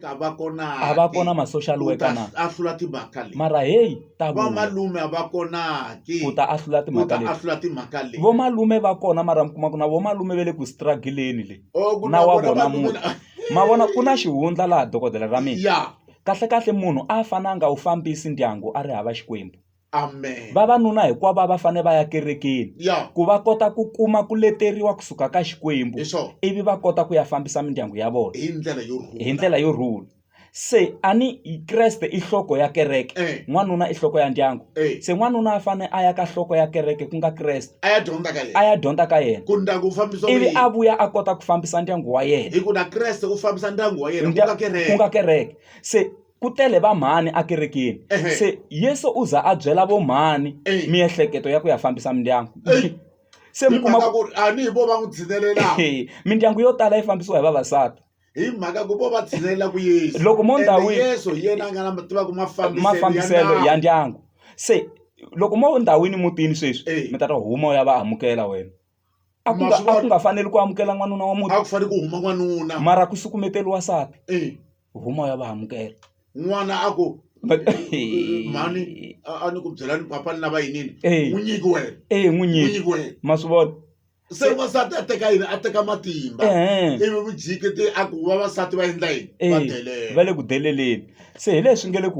a va kona a va kona ma social worker na a hlula timhaka leti mara heyi ta va malume a va kona ki ku ta a hlula timhaka leti a hlula timhaka leti vo malume va kona mara mi kuma ku na vo malume va le ku struggle-ni le na wa vona munhu ma vona ku na xihundla laha dokodela ra mina kahle kahle munhu a fananga wu fambisi ndyangu a ri hava xikwembu Amen. vavanuna hinkwavo a va fanele va ya kerekeni Yeah. ku va kota ku kuma ku leteriwa kusuka ka xikwembu Hi swona. ivi va kota ku ya fambisa mindyangu ya vona Hi ndlela yo rhula. hi ndlela yo rhula se a ni kreste i nhloko ya kereke Eh. n'wanuna i nhloko ya ndyangu Eh. se n'wanuna a fanele a ya ka nhloko ya kereke ku nga kreste A ya dyondza ka a yena. ya dyondza ka yena Ku ndyangu wu fambisa ku ivi yini? a vuya a kota ku fambisa ndyangu wa yena Hikuva na Kreste u fambisa ndyangu wa yena ku nga Ndya- kereke. ku nga kereke se ku tele va mhani a kerekeni se yesu u za a byela vo mhani miehleketo ya ku ya fambisa mindyangu se mi kuma ku ri ani hi vo va n'wi tshinelelaka mindyangu yo tala yi fambisiwa hi vavasati hi mhaka ku vo va tshinelela ku yesu loko mo ndhawini yesu hi yena a nga na tivaka mafambiselo ya ndyangu se loko mo ndhawini mutini sweswi mi ta ta huma u ya va amukela wena a ku Ma nga swi a ku vona? nga faneli ku amukela n'wanuna wa a muti ku fanele ku huma n'wanuna mara ku sukumeteriwa nsati Eh, huma ya va amukela n'wana a ku But- mhani a a ni ku byela ni papa ni lava yinini Eh. n'wi nyiki wena e n'wi n'wi nyiki nyiki wena ma swi vona se n'wansati a teka yini a teka matimba Ehe. ivi vujikete a ku vavasati va endla yini va Eh, delela va le ku deleleni se hi leswi nge le ku